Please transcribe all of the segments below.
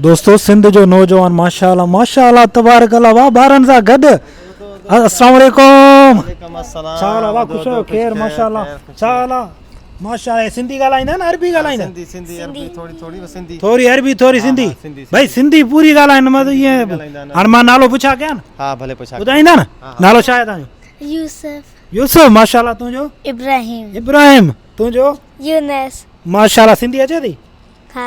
دوستو سنڌ جو نوجوان ماشاء الله ماشاء الله تبارڪ الله واھ ٻارن سان گڏ السلام عليڪم ڇا حال واھ خوش آهيو خير ماشاء الله ڇا حال آ ماشاء الله سنڌي ڳالهائيندا نه عربي ڳالهائيندا سنڌي سنڌي عربي ٿوري ٿوري سنڌي ٿوري عربي ٿوري سنڌي ڀائی سنڌي پوري ڳالهائين مت ائين هاڻ مان نالو پڇا ڪيان ها ڀلي پڇا ٻڌائيندا نه نالو ڇا آهي تنهنجو يوسف يوسف ماشاء الله تنهنجو ابراهيم ابراهيم تنهنجو يونس ماشاء الله سنڌي اچي ٿي ها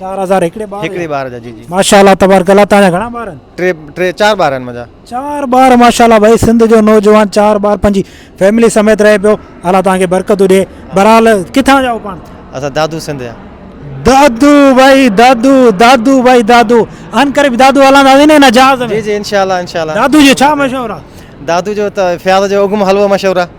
4000 هڪڙي ٻار هڪڙي ٻار جا جي جي ماشاءالله تبارڪ الله تان جا گھڻا ٻار آهن ٽي ٽي چار ٻار آهن منهنجا چار ٻار ماشاءالله ڀائي سنڌ جو نوجوان چار ٻار پنهنجي فيملي سميت رهي پيو الله تان کي برڪتون ڏي برحال ڪٿان جا پاڻ اسا دادو سنڌ جا دادو ڀائي دادو دادو ڀائي دادو ان ڪري دادو هلان دا نه نه جهاز ۾ جي جي انشاءالله انشاءالله دادو جو ڇا مشهور آ دادو جو ته فياض جو اگم حلوو مشهور آ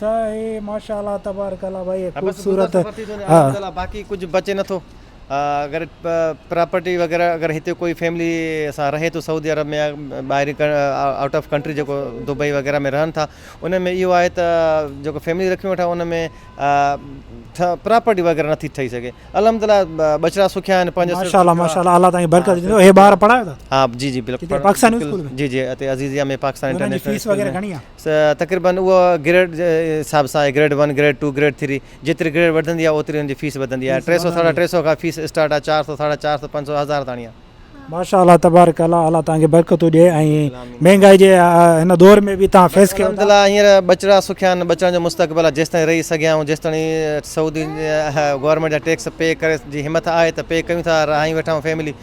سائي ماشاء الله تبارڪ الله ڀائي خوبصورت ها باقي ڪجھ بچي نه ٿو اگر پراپرٽي وغيره اگر هتي ڪوئي فيملي سان رهي ٿو سعودي عرب ۾ ٻاهرين آئوٽ آف ڪنٽري جيڪو دبئي وغيره ۾ رهن ٿا ان ۾ اهو آهي ته جيڪو فيملي رکيون ويٺا ان ۾ پراپرٽي وغيره نٿي ٺهي سگهي الحمد لله ٻچڙا سکيا آهن پنهنجا ماشاء الله ماشاء الله الله تعالي برڪت ڏيندو هي ٻار پڙهايو ها جي جي بلڪل جي جي هتي عزيزيا ۾ پاڪستان انٽرنيشنل فيس وغيره گهڻي آهي تقريبن اهو گريڊ جي حساب سان آهي grade one grade two grade three جيتري گريڊ وڌندي آهي اوتري ان جي فيس وڌندي آهي ٽي سئو ساڍا ٽي سئو کان فيس اسٽارٽ آهي چار سئو ساڍا چار سئو پنج سئو هزار تاڻي آهي. ماشاء الله تبارڪ الله الله توهان کي برڪتون ڏي ۽ مهنگائي جي هن دور ۾ به توهان فيس ڪيو ٿا. هينئر ٻچڙا سکيا آهن ٻچڙن جو مستقبل آهي جيستائين رهي سگهيا آهيون جيستاڻي سعودي گورنمينٽ جا ٽيڪس پي ڪري جي همٿ آهي ته پي ڪيون ٿا رهايون ويٺا آهيون فيملي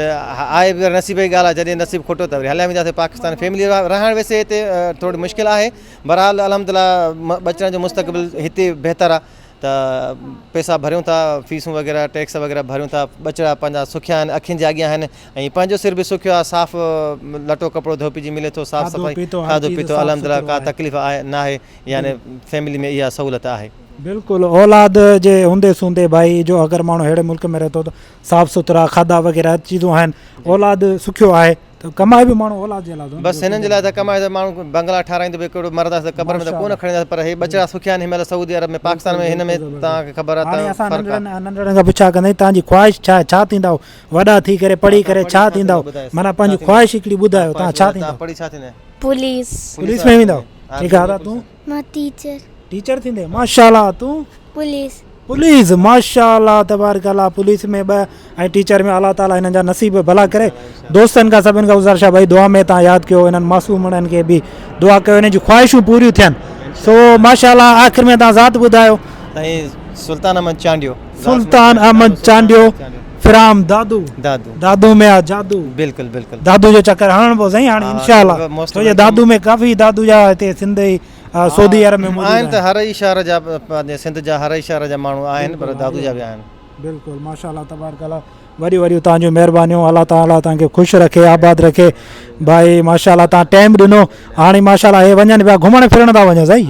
آهي پر نصيب جي ڳالهه آهي جڏهن نصيب کوٽو ته وري هليا وينداسين پاڪستان فيملي رهڻ ويسي هتي ٿورڙي مشڪل آهي بهرحال الحمدلله ٻچڙن جو مستقبل هتي بهتر آهي ته پيسا ڀريون ٿا فيسون وغيره ٽيڪس وغيره ڀريون ٿا ٻچڙا پنهنجا سکيا آهن اکين جي اڳيان آهن ۽ پنهنجو سر به سکيو آهي صاف لٽو ڪپڙو ڌوپجي ملي ٿو صاف صفائي کاڌو پيتو الحمدلله ڪا تڪليف آهي ناهي يعني فيملي ۾ اها سهولت آهي بلڪل اولاد جي هوندي سوندي ڀائي جو اگر ماڻهو اهڙي ملڪ ۾ رهي ٿو ته صاف سٿرا کاڌا وغيره هر چيزون آهن اولاد سکيو آهي ته ڪمائي به ماڻهو اولاد جي لاء ٿو بس هنن جي لاء ته ڪمائي ته ماڻهو بنگلا ٺارايندو به ڪهڙو مرد آهي ته قبر ۾ ته ڪو نه کڻي وينداسين پر هي ٻچڙا سکيا آهن هن مهل سعودي عرب ۾ پاڪستان ۾ هن ۾ توهان کي خبر آهي ته فرق آهي هاڻي اسان ننڍڙن ننڍڙن کان پڇا ڪندي توهان جي خواهش ڇا آهي ڇا ٿيندا وڏا ٿي ڪري پڙهي ڪري ڇا ٿيندا معنيٰ پنهنجي خواهش هڪڙي ٻڌايو توهان ڇا ٿيندا پڙهي ڇا ٿيندا پوليس پوليس ۾ ويندا ٺيڪ آهي دادا تون مان ٽيچر. ٽيچر ٿيندين ماشاء الله تون. پوليس. پوليس ماشاء الله تبارڪ الله پوليس ۾ ٻه ۽ ٽيچر ۾ الله تعالي هنن جا نصيب ڀلا ڪري دوستن کان سڀن کان گزارش آ ڀائي دعا ۾ تان ياد ڪيو هنن معصومڙن کي به دعا ڪيو هنن جون خواهشون پوريون ٿين سو ماشاء الله آخر ۾ تان ذات ٻڌايو سائين سلطان احمد چانڊيو سلطان احمد چانڊيو فرام دادو دادو دادو ۾ آ جادو بلڪل بلڪل دادو جو چڪر هڻڻ پو سائين هاڻي انشاء الله ڇو جو دادو ۾ ڪافي دادو جا هتي سنڌ ۽ سعودي عرب ۾ آهن ته هر ئي شهر جا پنهنجي سنڌ جا هر ئي شهر جا ماڻهو آهن پر دادو جا به آهن بلڪل ماشاء الله تبارڪ الله وڏيون وڏيون تان جون مهربانيون الله تعالٰي تان کي خوش رکي آباد رکي بھائي ماشاء الله تان ٽائم ڏنو هاڻي ماشاء الله هي وڃن پيا گهمڻ ڦرڻ ٿا وڃن سائين